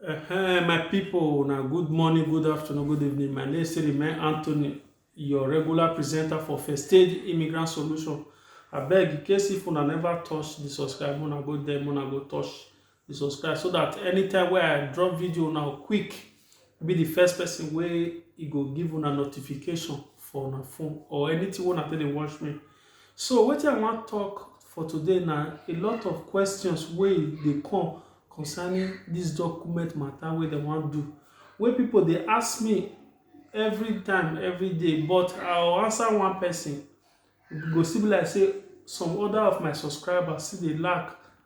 Hey, my people, now good morning, good afternoon, good evening. My name is Remain Anthony, your regular presenter for First Stage Immigrant Solution. I beg, in case if una never touch the subscribe, una go there, una go touch the subscribe, so that anytime where I drop video now quick, be the first person where it go give una notification for una phone or anything when I tell they watch me, So wetin I wan talk for today na a lot of questions wey e dey come concerning this document matter wey dem wan do wey people dey ask me every time every day but I will answer one person e go still be like say some other of my subscribers still dey lack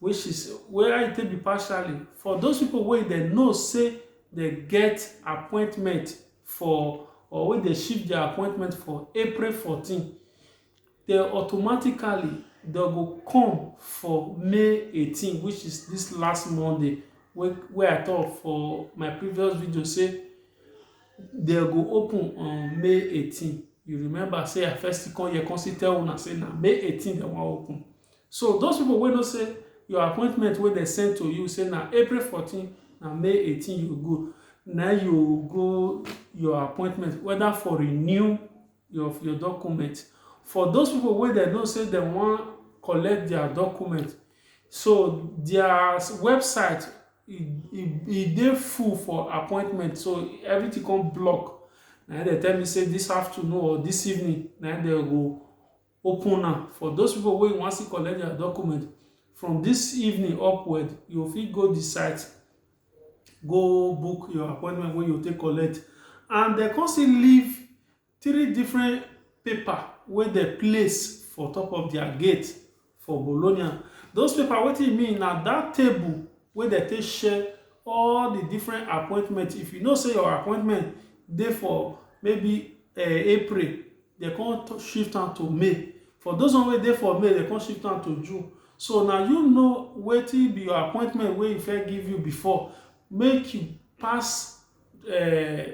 wey she say wey how e take be partially for those people wey dem know say dem get appointment for or wey dem shift their appointment for April fourteen dem automatically dem go come for May eighteen which is this last Monday wey wey I talk for my previous video say dem go open on May eighteen you remember say I first come here come still tell una say na May eighteen dem wan open So those people wey know say your appointment wey dem send to you say na April 14 na May 18 you go na you go your appointment whether for renew your your document for those people wey dem know say dem wan collect their document so their website e e e dey full for appointment so everything come block na im dem tell me say this afternoon or this evening na im dem go open am for those people wey wan still collect their document from this evening upward you fit go the site go book your appointment wey you take collect and dem come still leave three different paper wey dem place for top of their gate for bologna those paper wetin e mean na that table wey dem take share all the different appointment if you know say your appointment dey for maybe uh, april Dem come to shift am to male. For those one wey dey for male, dem come shift am to June. So na you know wetin be your appointment wey e first give you before, make you pass um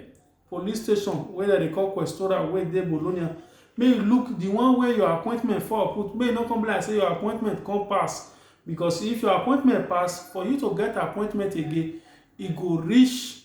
police station wey dem dey call Questora wey dey Bologna, make you look the one wey your appointment fall put, make e no come be like sey your appointment come pass, because if your appointment pass, for you to get appointment again, e go reach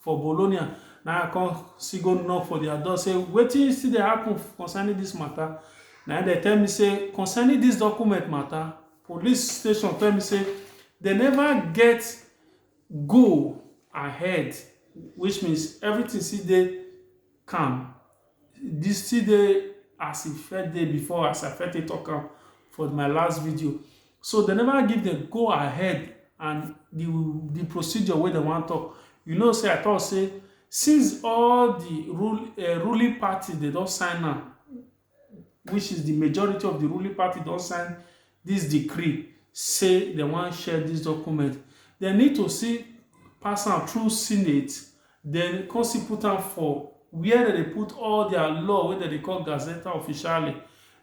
for bologna na i come still go knock for their door say wetin still dey happen concerning this matter na im dem tell me say concerning this document matter police station tell me say they never get go ahead which means everything still dey calm this still dey as e first dey before as i first take talk am for my last video so they never give them go ahead and the the procedure wey they wan talk you know say i talk say since all the rule uh, ruling party they don sign am which is the majority of the ruling party don sign dis decree say dem wan share dis document, dem need to still pass am through senate, den come still put am for where dem dey put all dia law wey dem dey call Gazeta Officiale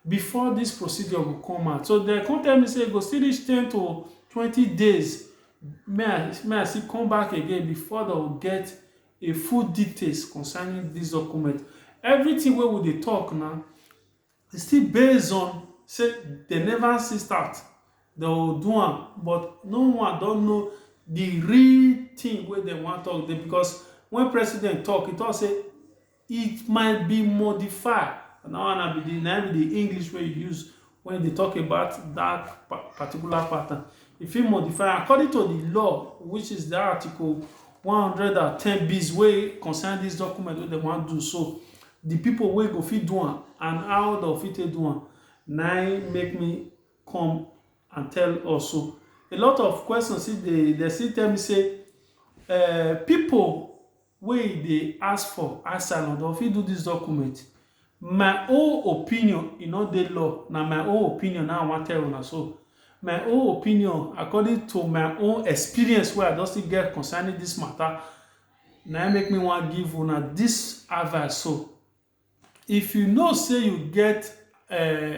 before dis procedure go come out. So dem come tell me say e go still reach ten to twenty days make I make I still come back again before dem go get a full details concerning dis document. Everytin wey we dey tok na Still based on say dem never see start, dem go do am but no one don know the real thing wey dem wan talk dey because when president talk, e talk say it might be modified. Na that one na be the na im be the English wey e use when e dey talk about that particular pattern. E fit modify am according to the law which is that article one hundred and ten bis wey concern this document wey dem wan do so. Di pipo wey go fit do am and how dem fit take do am na im make me come and tell us so. A lot of questions still dey, dem still tell me say um pipo wey e dey ask for asylum dem fit do dis document. My own opinion, e no dey law, na my own opinion na im I wan tell una so. My own opinion according to my own experience wey I don still get concerning dis mata na im make me wan give una this advice so if you know say you get uh,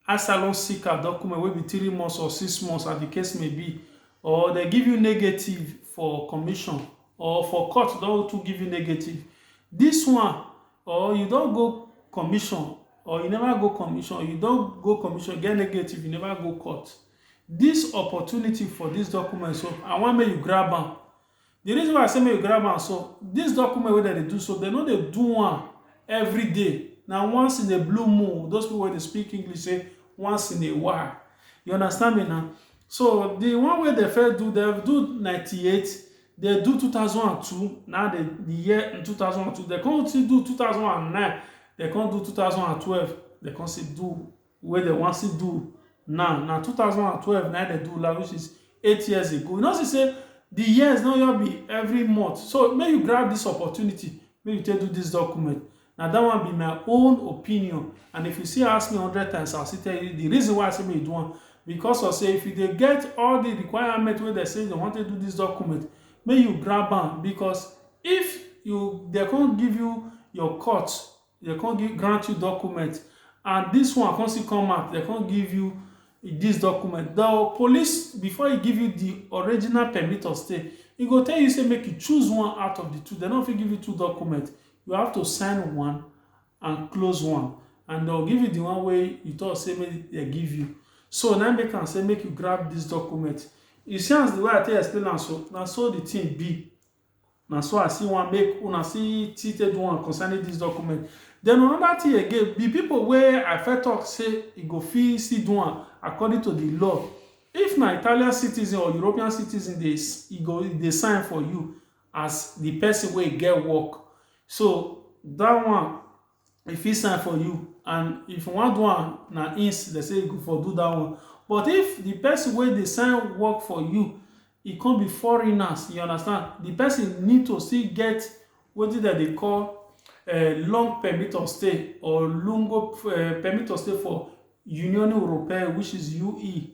asylum seeker document wey be three months or six months as the case may be or they give you negative for commission or for court don to give you negative this one or you don go commission or you never go commission you don go commission get negative you never go court this opportunity for this document so i wan make you grab am The reason why I say make you grab am so, this document wey dem dey do so, dem no dey do am every day. Na once in a blue moon, those people wey dey speak English say once in a while. You understand me na? So the one wey dem first do, dem do ninety eight, dem do two thousand and two, na the the year in two thousand and two, dem come still do two thousand and nine, dem come do two thousand and twelve, dem come still do wey dem wan still do now na two thousand and twelve na dem do last which is eight years ago you know see say the years no just be every month so make you grab this opportunity make you take do this document na that one be my own opinion and if you still ask me hundred times i will still tell you the reason why i say make you do am because of say if you dey get all the requirement wey dem say dem wan take do this document make you grab am because if you dem come give you your cut Dem come give grant you document and this one come still come out dem come give you this document the police before he give you the original permit of stay he go tell you say make you choose one out of the two dem no fit give you two document you have to sign one and close one and dem go give you the one wey you talk say make dem give you so na make am say make you grab this document you see as the way i take explain am so na so the thing be na so i see one make una see see take do am concerning this document then another thing again the people wey i first talk say e go fit still do am according to the law if na italian citizen or european citizen dey s- e go e dey sign for you as the person wey get work so that one e fit sign for you and if you wan do am na him dey say you go for do that one but if the person wey dey sign work for you e come be foreigners you understand the person need to still get wetin dem dey call eh, long permit of stay or lungo eh, permit of stay for Union Europea which is UE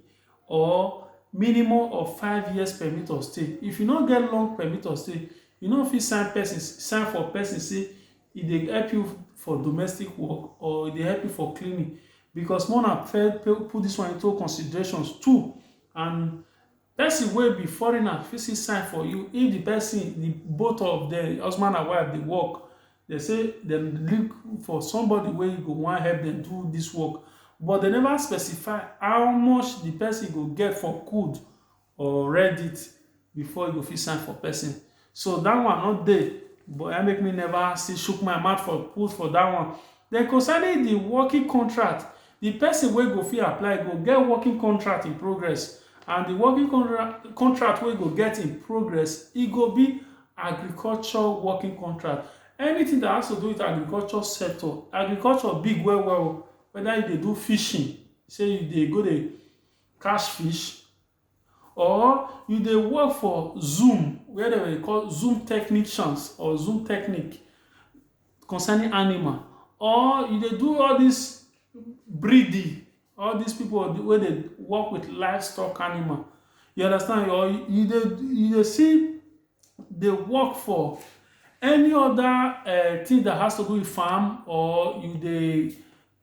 or minimum of five years permit of stay if you no get long permit of stay you no fit sign person sign for person say e dey help you for domestic work or e dey help you for cleaning because more na put this one into considerations too and person wey be foreigner fit see sign for you if the person the both of them husband and wife dey work they say dem look for somebody wey go wan help them do this work but they never specify how much the person go get for good or read it before you go fit sign for person so that one no dey but I make me never see shook my mouth for put for that one then concerning the working contract the person wey go fit apply go get working contract in progress and the working contract contract wey go get in progress e go be agriculture working contract anything that has to do with agriculture sector agriculture big well well whether you dey do fishing say you dey go dey cash fish or you dey work for zoom where dem dey call zoom technicians or zoom technique concerning animal or you dey do all this breeding all these people wey dey work with livestock animal you understand or you dey you dey see dey work for any other uh, thing that has to do with farm or you dey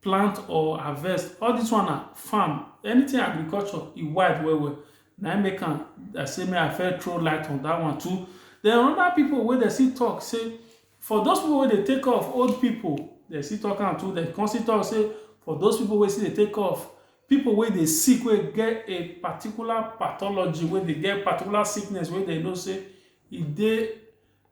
plant or harvest. All dis one na farm. Anything agriculture, e wide well well. Na im make am I say make I first throw light on dat one too. Den another pipu wey dem still talk say for those pipu wey dey take care of old pipu, dem still talk am too. Dem come still talk say for those pipu wey still dey take care of pipu wey dey sick, wey get a particular pathology, wey dey get particular sickness wey dem know sey e dey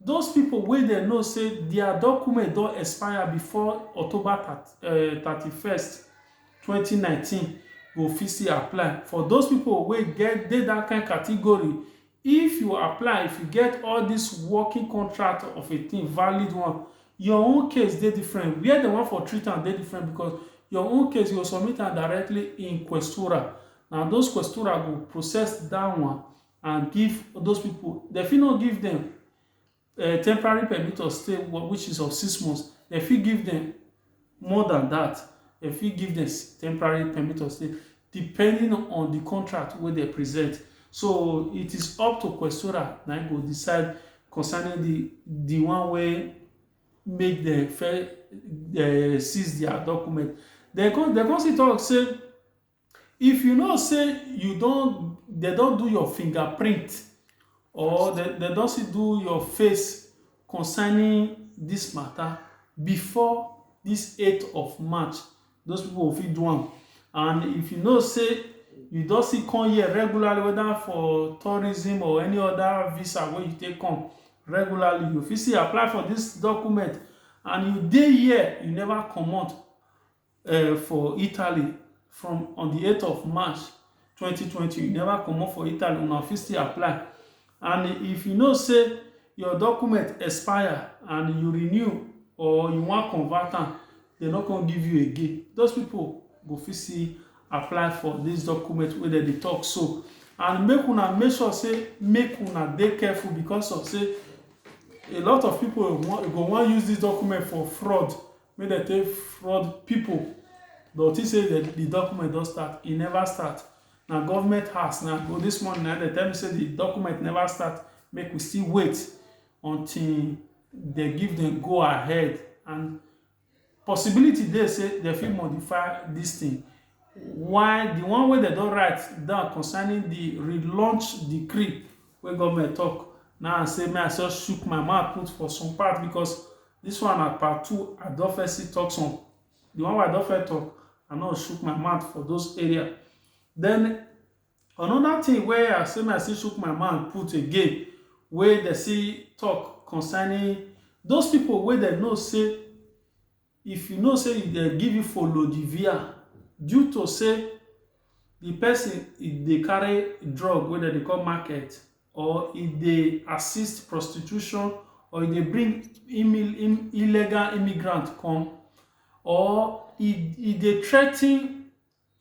Those pipo wey dem know say dia documents don expire bifor October thirty first, twenty nineteen go fit still apply. For those pipo wey get dey dat kain category, if you apply, if you get all dis working contract of a tin, valid one, your own case dey different. Wia dem wan for treat am dey different bicos your own case, you go submit am directly in Questura. Na those Questura go process dat one and give those people dem fit not give them uh, temporary permit of stay which is of six months dem fit give them more than that dem fit give them temporary permit of stay depending on the contract wey dem present so it is up to questora na go decide concerning the the one wey make dem fair uh, seize their document dem come dem come still talk say If you know say you don dem don do your fingerprint or dem dem don still do your face concerning this matter before this eight of March, those people go fit do am. And if you know say you don still come here regularly whether for tourism or any other visa wey you take come regularly, you fit still apply for this document and you dey here, you never comot um for Italy from on the 8th of March 2020, you never come up for Italy, una fit still apply. And if you know say your document expire and you renew or you wan convert am, they no come give you again. Those people go fit still apply for this document wey dem dey talk so. And make una make sure say make una dey careful because of say a lot of people go wan use this document for fraud make dem take fraud people but think say the, the document don start e never start na government house na go this morning na dem tell me say the document never start make we still wait until they give them go ahead and possibility dey say they fit modify this thing while the one wey dem don write down concerning the relaunch decree wey government talk now say may i just shook my mouth put for some part because This one na part two I don first see talk some the one wey I don first talk I no shook my mouth for those area then another thing wey I say my still shook my mouth put again wey dem see talk concerning those people wey dem know say if you know say dem give you folodivia due to say the person e dey carry drug wey dem dey call market or e dey assist prostitution or e dey bring illegal immigrant come or e e dey threaten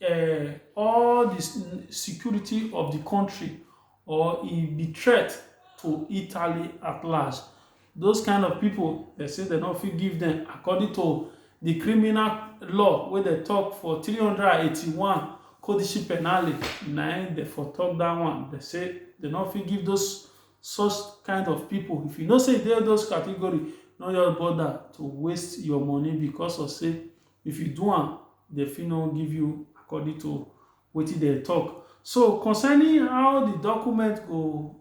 uh, all the security of the country or e be threat to Italy at large. Those kind of people, they say they don't fit give them according to the criminal law where they talk for 381 codice penale. Now they for talk that one. They say they don't fit give those such kind of people. If you know say they those category, no your bother to waste your money because of say if you do am, they fit no give you according to what they talk. So concerning how the document go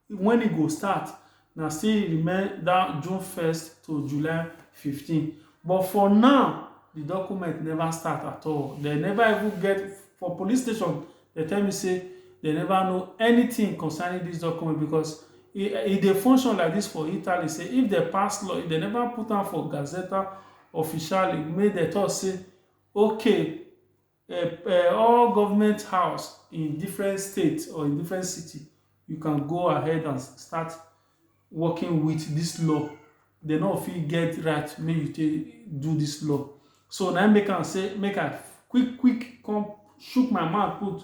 When e go start na still remain that June first to July fifteen but for now the document never start at all they never even get for police station they tell me say they never know anything concerning this document because e e dey function like this for Italy say if they pass law if they never put am for Gazzetta Ufficiale make they talk say okay all government house in different states or in different city, you can go ahead and start working with this law. They no fit get right make you take do this law. So now make am say make I quick quick come shook my mouth put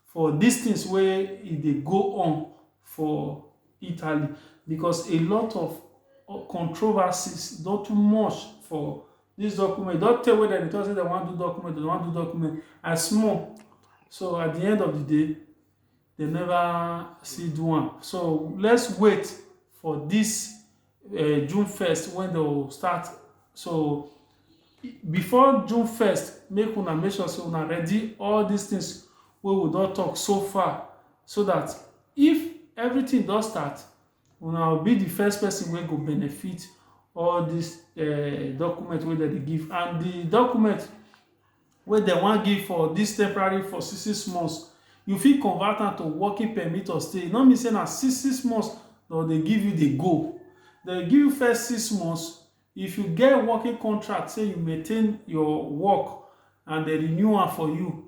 for these things where it they go on for Italy because a lot of uh, controversies not too much for this document don tell wey dem dey talk say dem wan do document dem wan do document i small so at the end of the day they never see do am so let's wait for this uh, june 1st when they will start so before june 1st make una make sure say una ready all these things wey we don talk so far so that if everything don start una will be the first person wey go benefit all this uh, document wey dem dey give and the document wey dem wan give for this temporary for six six months you fit convert am to working permit or stay e no mean say na six six months dem dey give you dey go dem give you first six months if you get working contract say you maintain your work and dem renew am for you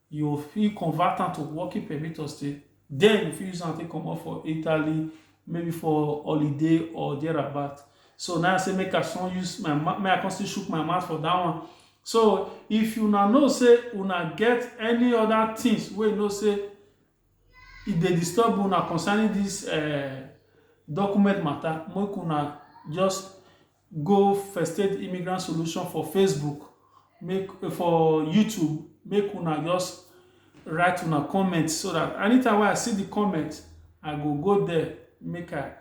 you fit convert am to working permit or stay then you fit use am take comot for italy maybe for holiday or thereabout so now i say make i son use my mouth make i come still shook my mouth for that one so if you now know say una get any other things wey you know say e dey disturb una concerning this uh, document matter make una just Go festate immigrant solution for facebook make for youtube make una just write una comment so that anytime wey i see the comment i go go there make i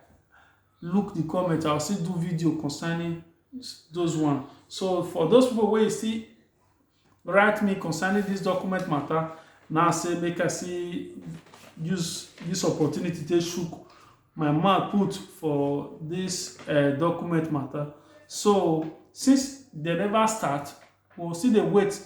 look the comment i will still do video concerning those one so for those people wey you see write me concerning this document matter now say make i see use this opportunity to shook my mouth put for this uh, document matter so since they never start we'll see the wait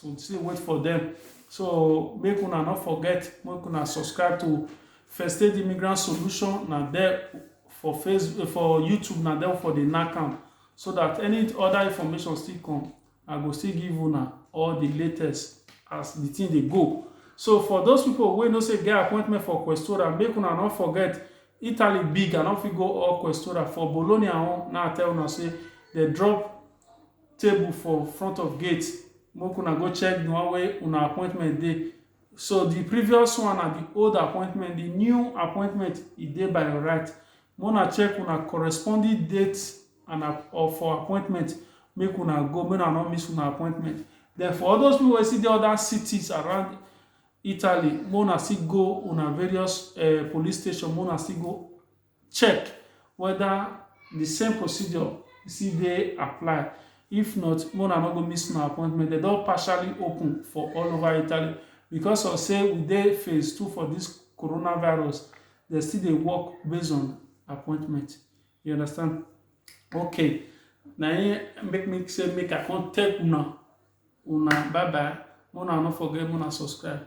we'll see the wait for them so make una not forget make una subscribe to first aid immigrant solution Now there for facebook for youtube Now there for the nakam so that any other information still come I go still give una all the latest as the thing dey go. So for those people wey no say get appointment for Questora, make una no forget Italy big, I no fit go all Questora. For Bologna own, now I tell una say they drop table for front of gate. Make una go check the one wey una appointment dey. So the previous one na the old appointment, the new appointment e dey by your right. Make una check una corresponding date and app- or for appointment make una go make una no miss una appointment. Then for all those people wey still dey other cities around Italy, make una still go una various um police station make una still go check whether the same procedure still dey apply if not make una no go miss una appointment dem don partially open for all over italy because of say we dey phase two for this coronavirus dem still dey work based on appointment you understand okay na im make me say make i come take una una bye bye make una no forget make una subscribe